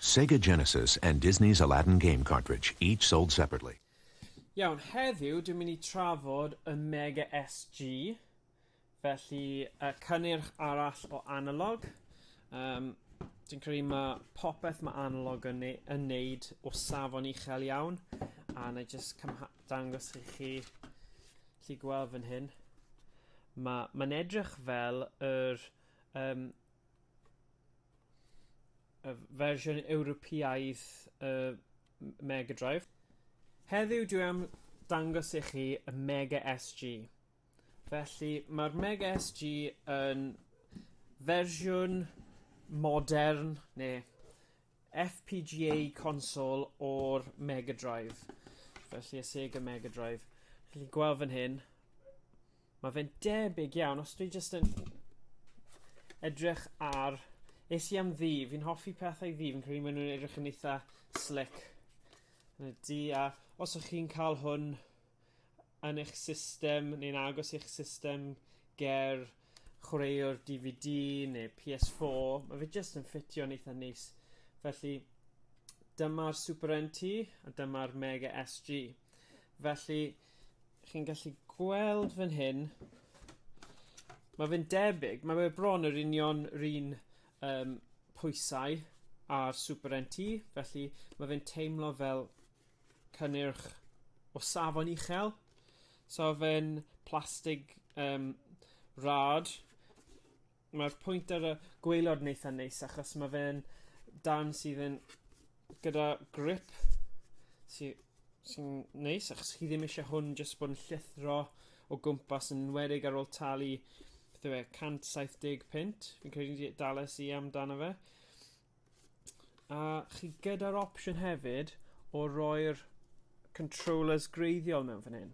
Sega Genesis and Disney's Aladdin game cartridge, each sold separately. Iawn, heddiw dwi'n mynd i trafod y Mega SG, felly y cynnyrch arall o analog. Um, dwi'n credu mae popeth mae analog yn, ne yn neud o safon uchel iawn, a na i just dangos i chi, chi gweld fan hyn. Mae'n ma edrych fel yr um, y fersiwn Ewropeaidd y Mega Drive. Heddiw dwi am dangos i chi y Mega SG. Felly mae'r Mega SG yn fersiwn modern neu FPGA consol o'r Mega Drive. Felly y Sega Mega Drive. Felly gweld fan hyn, Mae fe'n debyg iawn, os dwi jyst yn edrych ar... Es i am ddi, fi'n hoffi pethau ddi, fi'n credu maen nhw'n edrych yn eitha slick yn y di, a os ych chi'n cael hwn yn eich system neu'n agos i'ch system ger chwaraewr DVD neu PS4, mae fe jyst yn ffitio'n eitha neis. Felly, dyma'r Super NT a dyma'r Mega SG. Felly, chi'n gallu gweld fan hyn, mae fe'n debyg, mae fe bron yr union run um, pwysau ar Super NT, felly mae fe'n teimlo fel cynnyrch o safon uchel. So fe'n plastig um, rad Mae'r pwynt ar y gweilod neitha neis achos mae fe'n dan sydd yn gyda grip sy'n sy neis achos chi ddim eisiau hwn jyst bod yn llithro o gwmpas yn enwedig ar ôl talu beth yw e, 170 pint fi'n credu dales i amdano fe A chi gyda'r opsiwn hefyd o roi'r controllers greiddiol mewn fan hyn.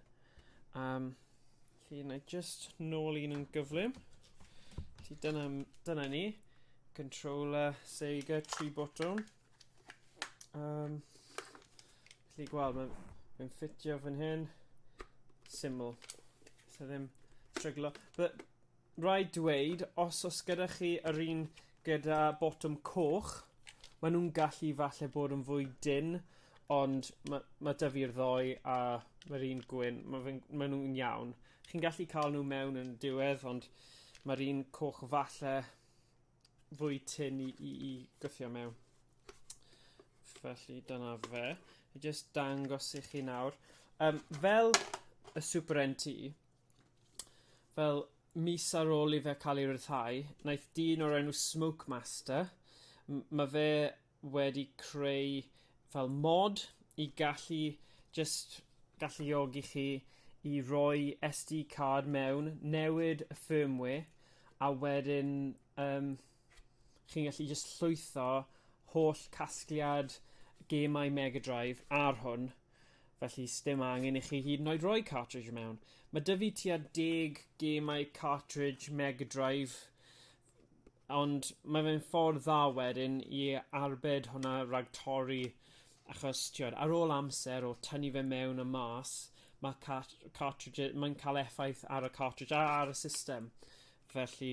Um, felly, na just nôl un yn gyflym. Felly, dyna, dyna ni. Controller, Sega, tri botwm. Um, felly, gweld, mae'n mae ffitio fan hyn. Syml. So ddim tryglo. But Rhaid dweud, os o's gyda chi yr un gyda botwm coch, ma' nw'n gallu falle bod yn fwy dynn ond ma' ma' 'da fi'r ddou a ma'r un gwyn ma' fe'n ma' nw'n iawn. Chi'n gallu ca'l n'w mewn yn diwedd ond ma'r un coch falle fwy tynn i i i gwthio mewn. Felly dyna fe. Fi jyst dangos i chi nawr. Yym fel y Super NT fel mis ar ôl i fe cael ei ryddhau, wnaeth dyn o'r enw Smoke Master, mae fe wedi creu fel mod i gallu just galluogi chi i roi SD card mewn, newid y firmware, a wedyn um, chi'n gallu jyst llwytho holl casgliad gemau Mega Drive ar hwn, felly sdim angen i chi hyd yn oed roi cartridge mewn. Mae dy fi tua deg gemau cartridge Mega Drive, ond mae fe'n ffordd dda wedyn i arbed hwnna rhag torri, achos tiod, ar ôl amser o tynnu fe mewn a mas, mae cartridge, mae'n cael effaith ar y cartridge a ar y system. Felly,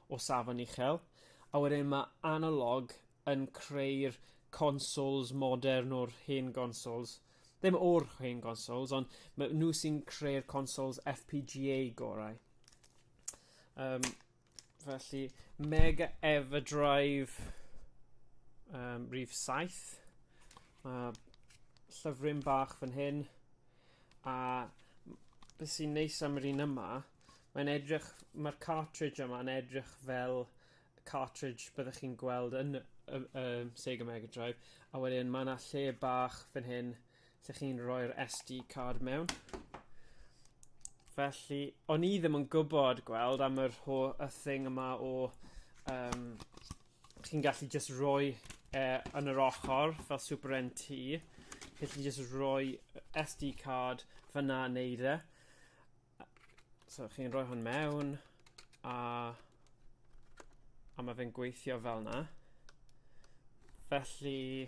o safon uchel, a wedyn ma' analog yn creu'r consoles modern o'r hen gonsols, ddim o'r hen gonsols, ond ma' nhw sy'n creu'r consols FPGA gorau. Um, felly, Mega Everdrive um, rif 7, mae llyfryn bach fan hyn, a beth sy'n neis am yr un yma, Mae'n edrych... mae'r cartridge yma yn edrych fel cartridge byddech chi'n gweld yn y y Sega Mega Drive a wedyn mae 'na lle bach fan hyn lle chi'n rhoi'r SD card mewn. Felly, o'n i ddim yn gwybod, gweld, am yr ho- y thing yma o yym chi'n gallu jyst rhoi e yn yr ochr fel Super NT, felly jyst rhoi y SD card fan'na a neud e. So chi'n rhoi hwn mewn, a, a mae fe'n gweithio fel yna. Felly,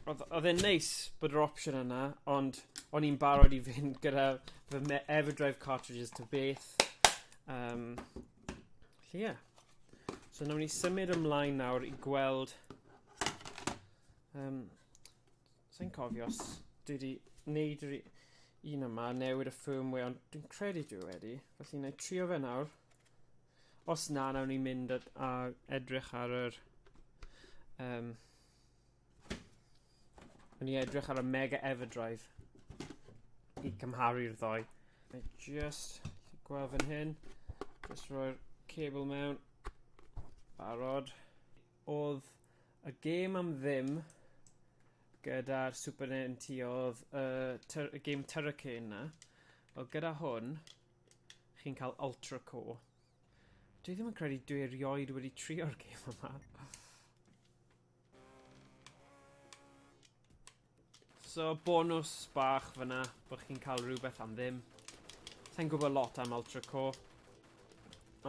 oedd e'n neis bod yr opsiwn yna, ond o'n i'n barod i fynd gyda fy Everdrive cartridges to beth. Um, felly, ie. Yeah. So, nawn ni symud ymlaen nawr i gweld um, Sa'n cofio os dwi wedi wneud yr un yma, newid y firmware, ond dwi'n credu dwi wedi. Felly na i trio fe nawr. Os na, nawr ni'n mynd a edrych ar yr... Um, Yn i edrych ar y Mega Everdrive i cymharu'r ddoi. I just, chi gweld fan hyn, just roi'r cable mewn, barod. Oedd Y gêm am ddim gyda'r Super NT oedd y ty- y gêm Turricane 'na. Wel gyda hwn chi'n cael Ultra Core. Dwi ddim yn credu dwi erioed wedi trio'r gêm yma. So bonws bach fyna bod chi'n cael rhywbeth am ddim. Sa i'n gwybod lot am Ultra Core.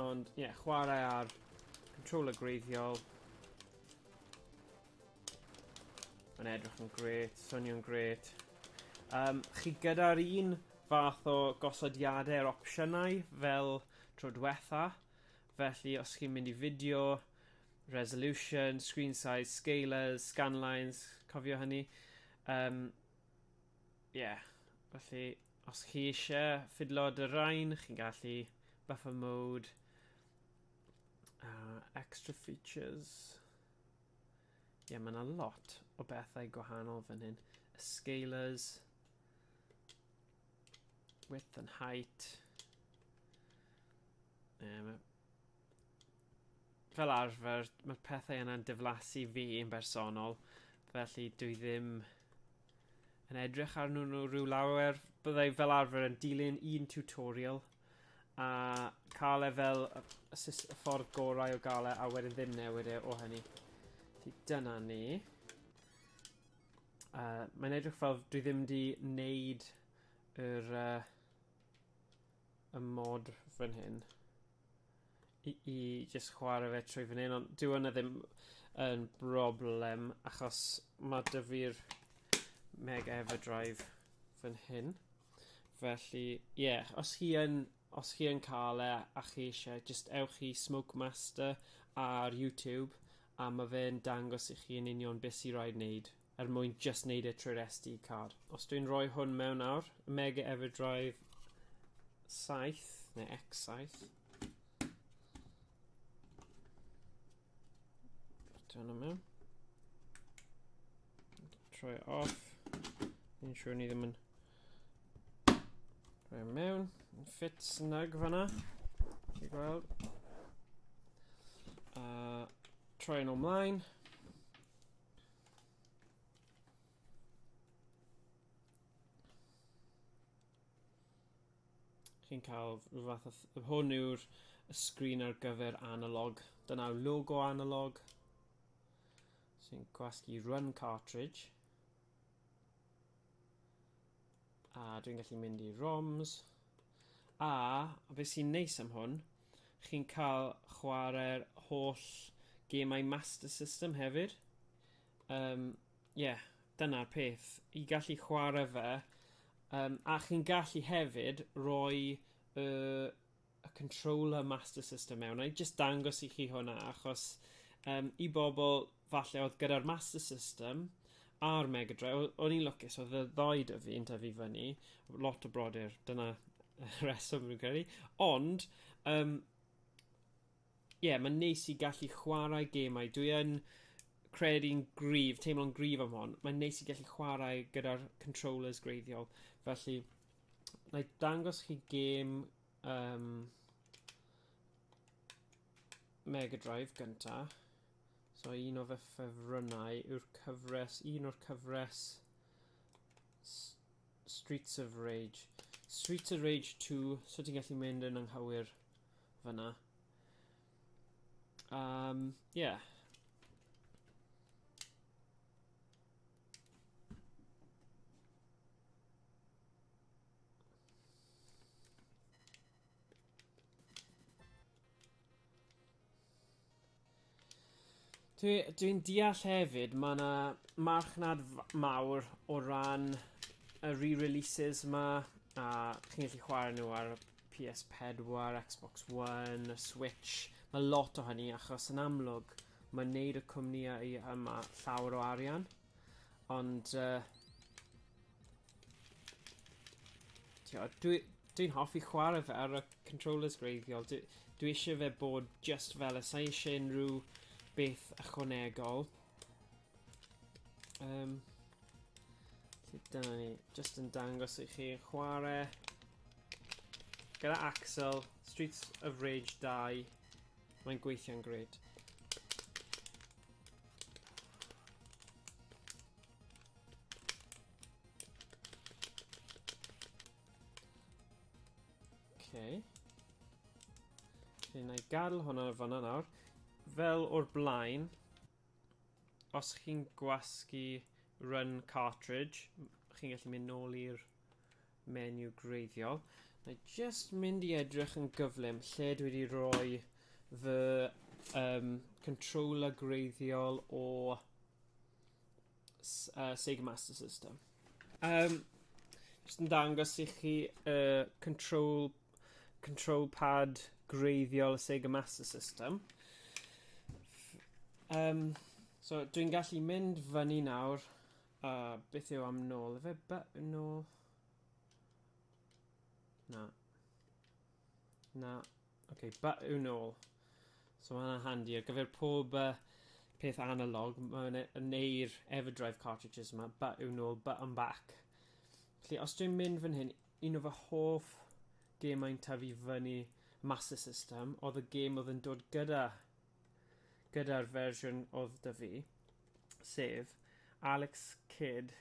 Ond ie, yeah, chwarae ar controller greiddiol. Mae'n edrych yn gret, swnio'n gret. Um, chi gyda'r un fath o gosodiadau'r opsiynau fel tro diwetha. Felly os chi'n mynd i fideo, resolution, screen size, scalers, scanlines, cofio hynny. Um, yeah, felly os chi eisiau ffidlo dy rain, chi'n gallu buffer mode, uh, extra features. Ie, yeah, mae yna lot o bethau gwahanol fan hyn. Y scalers, width and height. Um, Fel arfer, mae'r pethau yna'n diflasu fi yn bersonol, felly dwi ddim yn edrych arnyn nhw rhyw lawer. Byddai fel arfer yn dilyn un tutorial a cael e fel y, y, sys- y ffordd gorau o gael e a wedyn ddim newid e o hynny. Felly dyna ni. Uh, mae'n edrych fel dwi ddim di wneud yr, uh, y mod fan hyn. i, i just chwarae fe trwy fan hyn, ond dyw yna e ddim yn broblem, achos mae dy fi'r Mega Everdrive fan hyn. Felly, ie, yeah, os chi yn, os chi yn cael e a chi eisiau, just ewch i Smoke Master ar YouTube, a mae fe'n dangos i chi yn union beth sy'n rhaid wneud er mwyn jyst neud e trwy'r SD card. Os dwi'n rhoi hwn mewn nawr, y Mega Everdrive 7, neu X7. Bwtio hwnna mewn. Troi e off. Ni'n siŵr ni ddim yn rhoi e mewn. Ffit snug fanna. Chi gweld. Uh, troi yn o'mlaen. Chi'n cael rhyw fath o... Hwn yw'r sgrin ar gyfer analog. Dyna yw logo analog sy'n gwasgu run cartridge. A dwi'n gallu mynd i ROMs. A, fe sy'n neis am hwn, chi'n cael chwarae'r holl gemau Master System hefyd. Um, yeah, dyna'r peth. I gallu chwarae fe, um, a chi'n gallu hefyd roi y uh, y controller master system mewn. I just dangos i chi hwnna, achos um, i bobl falle oedd gyda'r master system a'r Mega Drive, o'n i'n lwcus, oedd y ddoi dy fi yn tyfu fyny, lot o brodyr, dyna reswm rwy'n credu. Ond, um, yeah, mae'n neis i gallu chwarae gemau. Dwi yn credu'n grif, teimlo'n grif am hon. Mae'n neis i gallu chwarae gyda'r controllers greiddiol. Felly, Na i dangos chi gêm um, Mega Drive gynta. So un o fy ffefrynnau yw'r cyfres, un o'r cyfres Streets of Rage. Streets of Rage 2, so ti'n gallu mynd yn anghywir fyna. Um, yeah. Dwi, dwi'n deall hefyd, mae yna marchnad mawr o ran y re-releases yma, a chi'n gallu chwarae nhw ar PS4, Xbox One, Switch, mae lot o hynny achos yn amlwg Mae'n neud y cwmnïau yma llawer o arian, ond uh, tiod, dwi, dwi'n hoffi chwarae fe ar y controllers greiddiol. Dwi, dwi eisiau fe bod just fel y sa'i eisiau unrhyw beth ychwanegol. Um, dyna ni, just yn dangos i chi chwarae gyda Axel, Streets of Rage 2. Mae'n gweithio'n gred. Okay. Felly, na i gadw hwnna fanna nawr. Fel o'r blaen, os chi'n gwasgu run cartridge, chi'n gallu mynd nôl i'r menu greiddiol. Na i just mynd i edrych yn gyflym lle dwi wedi rhoi fy um, controller greiddiol o uh, Sega Master System. Um, just yn dangos i chi uh, control, control pad greiddiol y Sega Master System. Um, so dwi'n gallu mynd fyny nawr A beth yw am nôl? Efe ba... nôl? Na. Na. Oce, okay, ba yw nôl? So mae hwnna'n handi ar gyfer pob uh, peth analog. Mae'n e, neu'r Everdrive cartridges yma. Ba yw nôl, ba am back. Felly, os dwi'n mynd fan hyn, un o fy hoff gemau'n tyfu fyny Master System oedd y gem oedd yn dod gyda gyda'r fersiwn oedd 'da fi, sef Alex Kidd,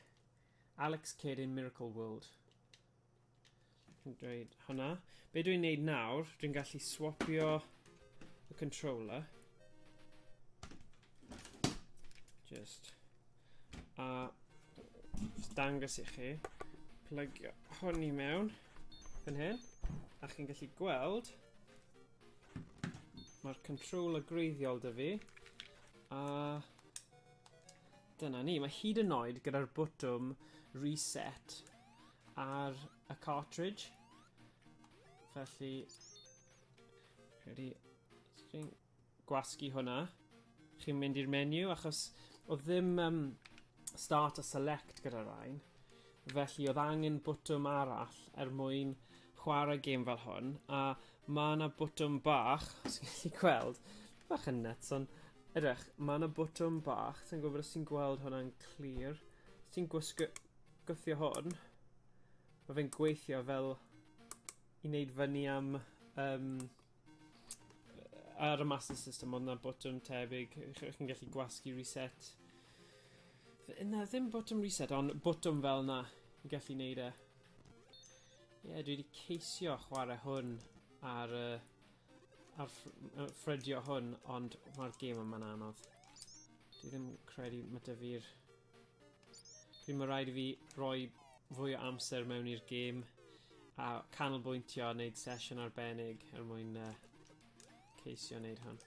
Alex Kidd in Miracle World. Dwi'n dweud hwnna. Be dwi'n neud nawr, dwi'n gallu swapio y controller. Just. A dangos i chi. Plygio hwn i mewn. Fan hyn. A chi'n gallu gweld Mae'r controller greiddiol dy fi. A... Dyna ni. Mae hyd yn oed gyda'r bwtwm reset ar y cartridge. Felly... Rhaid i... Gwasgu hwnna. Chi'n mynd i'r menu achos oedd ddim um, start a select gyda'r rhain. Felly oedd angen bwtwm arall er mwyn chwarae gêm fel hwn. A mae yna bwtwm bach, os chi'n gallu gweld, bach yn nuts, ond edrych, mae yna bwtwm bach, sy'n gwybod os ti'n gweld hwnna'n clir. Os ti'n gwisgo, gwythio hwn, mae fe'n gweithio fel i wneud fyny am um, ar y Master System ond na botwm tebyg chi'n gallu gwasgu reset na ddim botwm reset ond botwm fel na i gallu neud e ie yeah, dwi wedi ceisio chwarae hwn ar y uh, ar ffrydio hwn, ond mae'r gêm yma'n anodd. Dwi ddim credu mae dy fi'r Pryd mae rhaid i fi roi fwy o amser mewn i'r gêm a canolbwyntio a wneud sesiwn arbennig er mwyn uh, ceisio wneud hwn.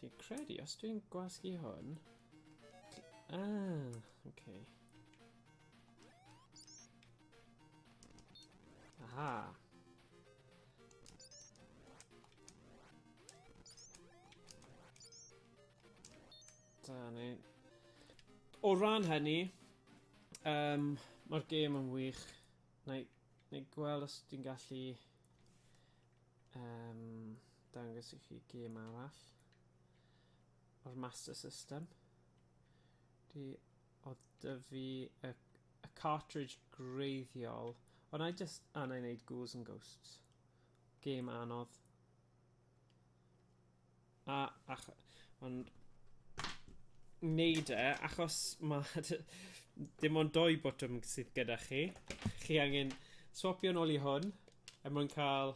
Fi'n credu, os dwi'n gwasgu hwn... Ah, oce. Okay. Aha. Da ni. O ran hynny, um, mae'r gêm yn wych. Na i, na i gweld os dwi'n gallu um, dangos i chi gêm arall o'r Master System. Dwi O 'da fi y y cartridge gwreiddiol. O na i jyst a na i neud Ghouls and Ghosts. Game anodd. A ach- ond neud e achos ma' d- dim ond dou botwm sydd gyda chi. Chi angen swapio nôl i hwn er mwyn ca'l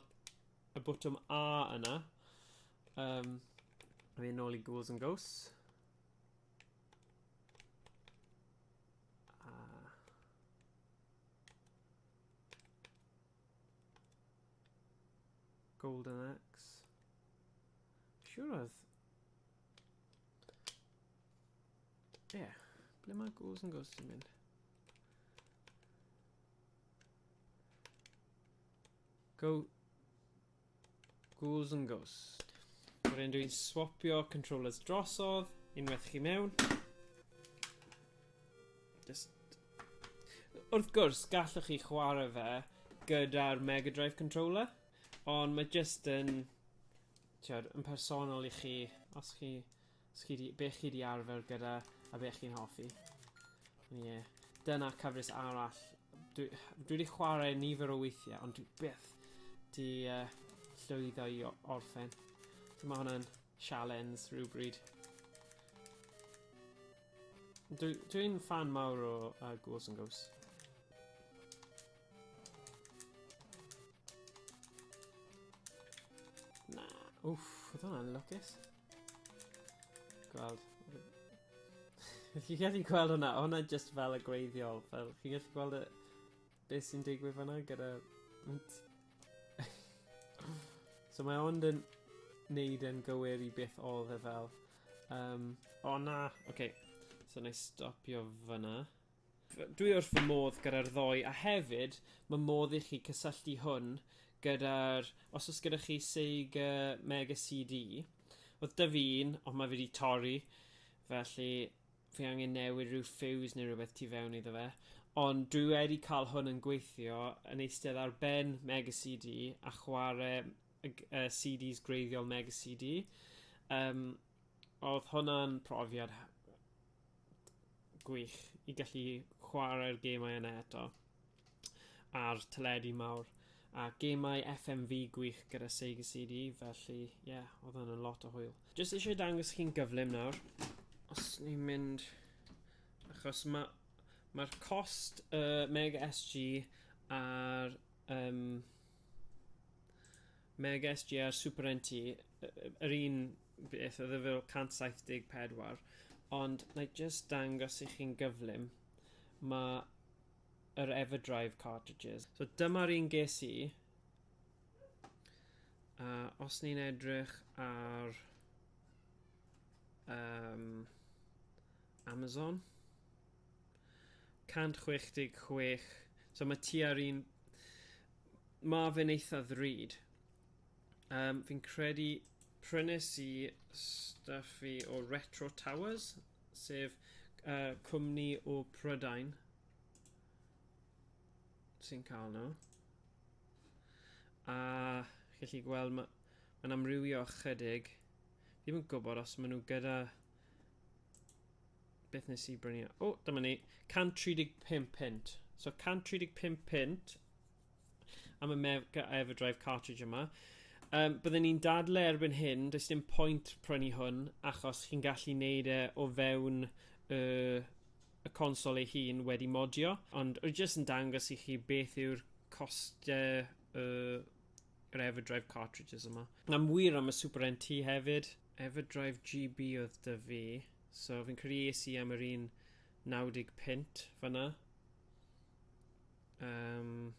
y botwm A yna. Yym a fi nôl i Ghouls and Ghosts. Golden Axe. Siwr oedd... Ie, yeah. ble mae Ghouls and Ghosts yn mynd? Go... Ghouls and Ghost. Wedyn dwi'n swapio controllers drosodd, unwaith chi mewn. Just... Wrth gwrs, gallwch chi chwarae fe gyda'r Mega Drive controller, ond mae just yn, tiod, yn personol i chi, os chi Chi 'di... Be chi 'di arfer gyda a be chi'n hoffi. Ie. Dyna cyfres arall. Dwi... Dwi 'di chwarae nifer o weithiau, ond dwi byth 'di uh, llwyddo i orffen. So mae hwnna'n sialens rhywbryd. Dwi'n dwi fan mawr o uh, Ghouls and Ghosts. Na, wff, oedd hwnna'n lwcus. Gweld. Chi'n gallu gweld hwnna? Hwnna just fel y gweithiol. Fel, chi'n gallu gweld y... Beth sy'n digwydd fanna gyda... so mae ond yn neud yn gywir i beth oedd e fel. Um, o na! Oce. Okay. So na i stopio fanna. Dwi wrth fy modd gyda'r ddoe a hefyd ma' modd i chi cysylltu hwn gyda'r os o's gyda chi Sega Mega CD oedd da fi un ond mae wedi torri felly fi angen newid rhyw ffiws neu rhywbeth tu fewn iddo fe ond dwi wedi cael hwn yn gweithio yn eistedd ar ben Mega CD a chwarae y CDs gwreiddiol Mega CD um, Oedd hwnna'n profiad gwych i gallu chwarae'r gemau yna eto ar teledu mawr a gemau FMV gwych gyda Sega CD felly ie yeah, oedd hwnna'n lot o hwyl. Jyst eisiau dangos chi'n gyflym nawr os ni'n mynd achos mae mae'r cost y uh, Mega SG a'r um, Meg SGR Super NT, yr un beth oedd e fel 174, ond na i just dangos i chi'n gyflym, mae yr Everdrive cartridges. So dyma'r un ges i, uh, os ni'n edrych ar um, Amazon, 166. So mae tua'r un... Mae fe'n eitha ddrud. Um, fi'n credu prynes i stuff fi o Retro Towers, sef uh, cwmni o Prydain sy'n cael nhw. A chi'n gallu gweld mae'n ma amrywio ychydig. Ddim yn gwybod os maen nhw gyda Beth nes i brynu? O, oh, dyma ni. 135 pint. So 135 pint am y Mega Everdrive cartridge yma. Um, byddwn ni'n dadle erbyn hyn, does dim pwynt prynu hwn, achos chi'n gallu neud e o fewn y, y consol ei hun wedi modio, ond rwy'n jyst yn dangos i chi beth yw'r costau uh, Everdrive cartridges yma. Am wir am y Super NT hefyd. Everdrive GB oedd dy fi. So fi'n credu es i am yr un 90 pint fanna. Um,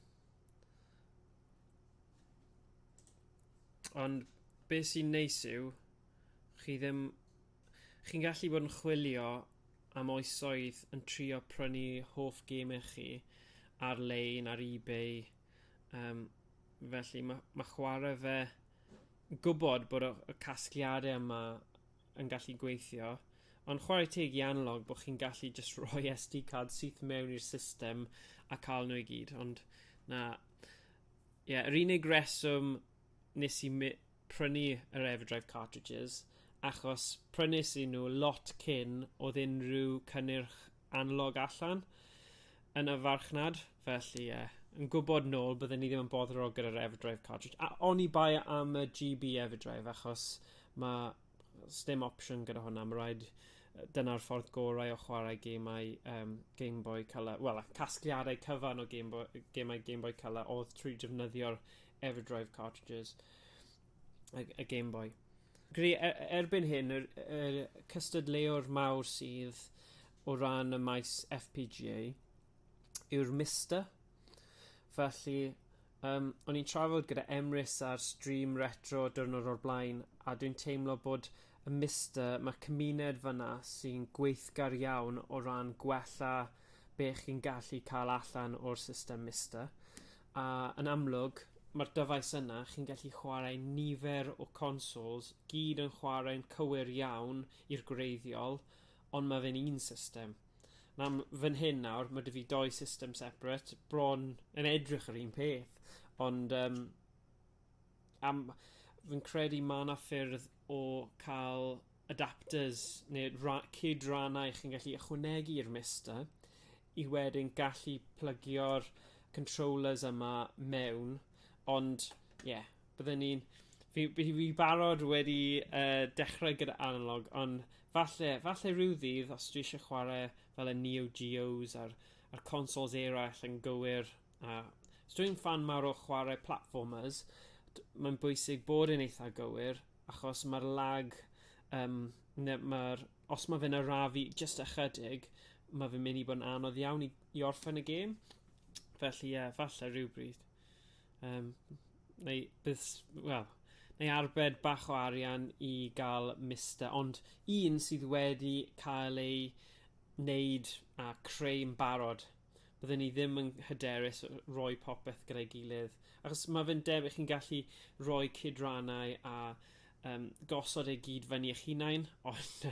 ond beth sy'n neis yw, chi ddim... Chi'n gallu bod yn chwilio am oesoedd yn trio prynu hoff gemau chi ar-lein, ar eBay, Um, felly mae, mae chwarae fe gwybod bod y, y casgliadau yma yn gallu gweithio, ond chwarae teg i analog bod chi'n gallu just rhoi SD card syth mewn i'r system a cael nhw i gyd, ond na, ie, yeah, yr unig reswm nes i prynu yr Everdrive cartridges achos prynes i nhw lot cyn oedd unrhyw cynnyrch analog allan yn y farchnad, felly ie, yeah, yn gwybod nôl byddwn ni ddim yn boddro gyda'r Everdrive cartridge. A o'n i bai am y GB Everdrive achos mae stem opsiwn gyda hwnna, mae rhaid dyna'r ffordd gorau o chwarae gemau um, Game Boy Color, wel, casgliadau cyfan o Game Boy, gemau Game Boy Color oedd trwy defnyddio'r Everdrive cartridges, a, a Game Boy. Gri, er, erbyn hyn, yr, yr cystadleuwr mawr sydd o ran y maes FPGA yw'r Mister. Felly, um, o'n i'n trafod gyda Emrys ar stream retro dyrnod o'r blaen, a dwi'n teimlo bod y Mister, mae cymuned fyna sy'n gweithgar iawn o ran gwella be chi'n gallu cael allan o'r system Mister. A yn amlwg, mae'r dyfais yna, chi'n gallu chwarae nifer o consoles, gyd yn chwarae'n cywir iawn i'r gwreiddiol, ond mae fe'n un system. Nawr, fan hyn nawr, mae dy fi doi system separate, bron yn edrych yr un peth, ond um, am, fi'n credu mae yna ffyrdd o cael adapters neu ra- cyd-rannau chi'n gallu ychwanegu i'r Mister i wedyn gallu plygio'r controllers yma mewn ond ie yeah, byddwn ni'n fi, fi, fi barod wedi uh, dechrau gyda analog ond falle, falle rhyw ddydd os dwi eisiau chwarae fel y Neo Geos a'r, a'r consoles eraill yn gywir A os dwi'n fan mawr o chwarae platformers, mae'n bwysig bod yn eitha gywir, achos mae'r lag, um, mae'r, os mae fe'n arafu just ychydig, mae fe'n mynd i bod yn anodd iawn i, i orffen y gêm. Felly, ie, yeah, falle rhywbryd. Um, neu, bydd, well, neu arbed bach o arian i gael mister, ond un sydd wedi cael ei wneud a creu yn barod bydden ni ddim yn hyderus roi popeth gyda'i gilydd. Achos mae fe'n debyg chi'n gallu rhoi cydrannau a um, gosod ei gyd fyny eich hunain, ond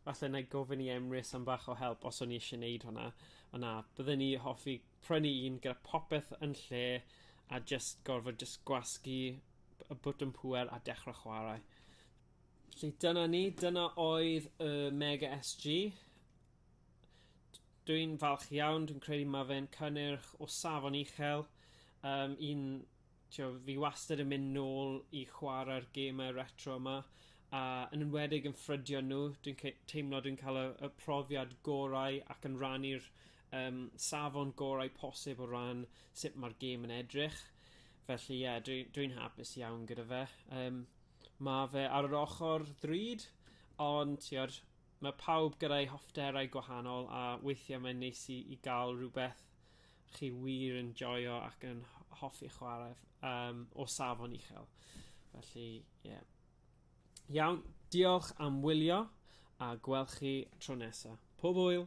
falle na i gofyn i Emrys am bach o help os o'n i eisiau gwneud hwnna. Ond na, bydden ni hoffi prynu un gyda popeth yn lle a just gorfod just gwasgu y bwtwm pwer a dechrau chwarae. Felly dyna ni, dyna oedd y Mega SG. Dw i'n falch iawn, dwi'n credu mae fe'n cynnyrch o safon uchel. Um, un, tio, fi wastad yn mynd nôl i chwarae'r gemau retro yma, a yn enwedig yn ffrydio nhw, dwi'n teimlo dwi'n cael y, y profiad gorau ac yn rannu'r um, safon gorau posib o ran sut mae'r gêm yn edrych. Felly, ie, yeah, dwi'n dwi, hapus iawn gyda fe. Um, mae fe ar yr ochr ddrud, ond, tiod, Mae pawb gyda'u hoffterau gwahanol a weithiau mae'n neis i, i gael rhywbeth chi wir yn joio ac yn hoffi chwarae um, o safon uchel. Felly, ie. Yeah. Iawn, diolch am wylio a gwelch chi tro nesaf. Pob hwyl!